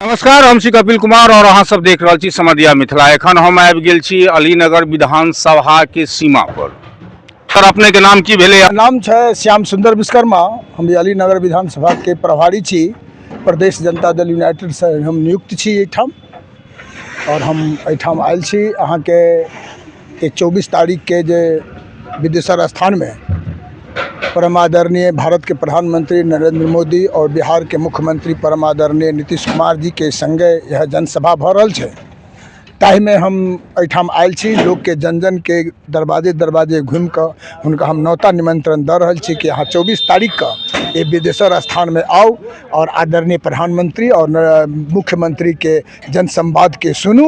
नमस्कार हम छी कपिल कुमार और अहाँ सब देख रहल छी समदिया मिथिला एखन हम आबि गेल छी अलीनगर विधानसभा के सीमा पर सर अपने के नाम की भेले नाम छै श्याम सुंदर विश्वकर्मा हम जे अलीनगर विधानसभा के प्रभारी छी प्रदेश जनता दल यूनाइटेड से हम नियुक्त छी एहिठाम और हम एहिठाम आयल छी अहाँके कि चौबीस तारीखके जे बिदेश्वर स्थानमे परम आदरणीय भारतके प्रधानमन्त्री नरेन्द्र मोदी आओर बिहारके मुख्यमन्त्री परम आदरणीय नीतीश कुमार जीके सङ्गे इएह जनसभा भऽ रहल छै ताहिमे हम एहिठाम आयल छी लोकके जन जनके दरवाजे दरवाजे घुमि कऽ हुनका हम नौता निमन्त्रण दऽ रहल छी कि अहाँ चौबीस तारीखके एहि बिदेश्वर स्थानमे आउ आओर आदरणीय प्रधानमन्त्री आओर न मुख्यमन्त्रीके जनसम्वादके सुनू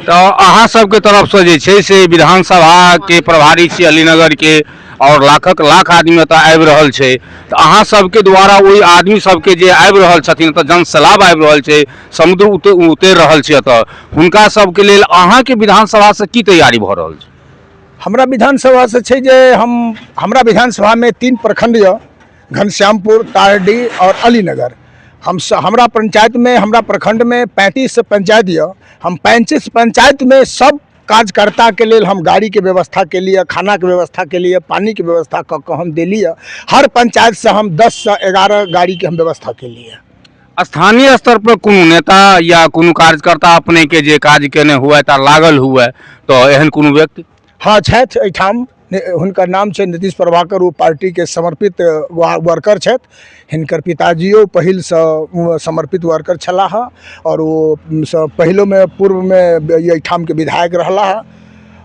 तऽ अहाँ सबके तरफसँ जे छै से विधानसभाके प्रभारी छी अलीनगरके आओर लाखक लाख आदमी एतऽ आबि रहल छै तऽ अहाँ सबके द्वारा ओहि आदमी सबके जे आबि रहल छथिन एतऽ जन सैलाब आबि रहल छै समुद्र उते उतरि रहल छै एतऽ हुनका सबके लेल अहाँके विधानसभासँ की तैयारी भऽ रहल छै हमरा विधानसभासँ छै जे हम हमरा विधानसभामे तीन प्रखण्ड यऽ घनश्यामपुर तारडी और अलीनगर हम स, हमरा पंचायत में हमरा प्रखंड में पैंतीस पंचायत यऽ हम पैंतीस पंचायत में सब कार्यकर्ता के लेल हम गाड़ी के व्यवस्था के लिए खाना के व्यवस्था के लिए पानी के व्यवस्था कऽ के हम देली यऽ हर पंचायत से हम दस से एगारह गाड़ी के हम व्यवस्था के लिए स्थानीय स्तर पर कोनो नेता या कोनो कार्यकर्ता अपने के जे काज केने हुए ता लागल हुए तो एहन कोनो व्यक्ति हाँ छथि एहिठाम हुनकर नाम छनि नीतीश प्रभाकर ओ पार्टीके समर्पित वा वर्कर छथि हिनकर पिताजीयो पहिलसँ ओ समर्पित वर्कर छलाह हँ आओर ओ सँ पहिलोमे पूर्वमे अइठामके विधायक रहला हँ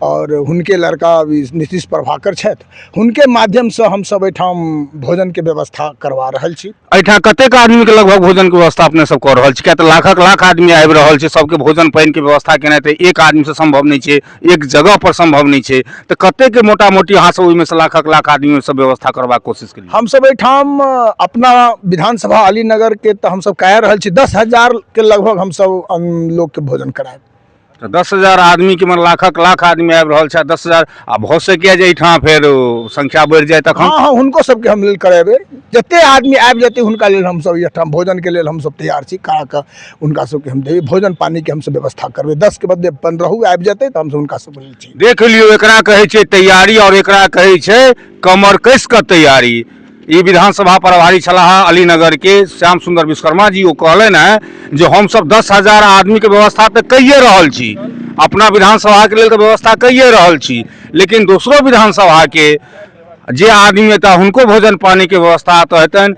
आओर हुनके लड़का ई नीतीश प्रभाकर छथि हुनके माध्यमसँ हमसभ अइठाम भोजनके व्यवस्था करबा रहल छी एहिठाम कतेक आदमीके लगभग भोजनके व्यवस्था अपने सब कऽ रहल छी किएक तऽ लाखक लाख आदमी आबि रहल छै सबके भोजन पानिके व्यवस्था केनाइ तऽ एक आदमीसँ सम्भव नहि छै एक जगह पर संभव नहि छै तऽ कते के मोटा मोटी अहाँ सब ओहिमे से लाखक लाख आदमी सब व्यवस्था करबाक कोशिश केलियै हम सब एहिठाम अपना विधानसभा अलीनगर के तऽ हम सब कह रहल छी दस हजार के लगभग हम सब लोग के भोजन करायब तऽ दस हजार आदमी के मतलब लाखक लाख आदमी आबि रहल छै दस हजार आ भऽ सकैए जे एहिठाम फेर ओ, संख्या बढ़ि जाय तखन हँ हँ हुनको सबके हम लेल करेबै जते आदमी आबि जेतै हुनका लेल हमसब एहिठाम भोजनके लेल हमसब तैयार छी करा कऽ हुनका सबके हम देबै भोजन पानिके हमसब व्यवस्था करबै दसके बदले पन्द्रहो आबि जेतै तऽ हमसब हुनका सबके लै छी देख लियौ एकरा कहै छै तैयारी आओर एकरा कहै छै कमर कसि कऽ तैयारी ई विधानसभा प्रभारी छलाह अलीनगरके श्याम सुंदर विश्वकर्मा जी ओ कहलनि हेँ जे हमसभ दस हजार आदमीके व्यवस्था तऽ कैए रहल छी अपना विधानसभाके लेल तऽ व्यवस्था कैए रहल छी लेकिन दोसरो विधानसभाके जे आदमी एतऽ हुनको भोजन पानिके व्यवस्था एतऽ हेतनि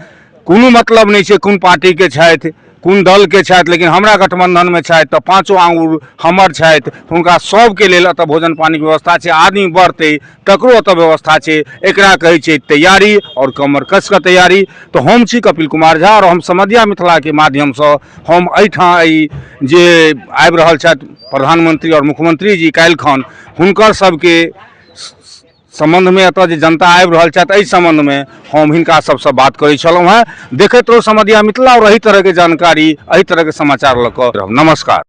कोनो मतलब नहि छै कोन पार्टीके छथि कोन दलके छथि लेकिन हमरा गठबन्धनमे छथि तऽ पाँचो आँगुर हमर छथि हुनका सभके लेल एतऽ भोजन पानिके व्यवस्था छै आदमी बढ़तै तकरो एतऽ व्यवस्था छै एकरा कहै छै तैयारी आओर कमर कसि कऽ तैयारी तऽ हम छी कपिल कुमार झा आओर हम समधिया मिथिलाके माध्यमसँ हम एहिठाम एहि जे आबि रहल छथि प्रधानमंत्री आओर मुख्यमंत्री जी काल्हिखन हुनकर सभके सम्बन्धमे एतऽ जे जनता आबि रहल छथि एहि सम्बन्धमे हम हिनका सबसँ बात करै छलहुँ हेँ देखैत रहू समधिया मिथिला आओर एहि तरहके जानकारी एहि तरहके समाचार लऽ कऽ रहब नमस्कार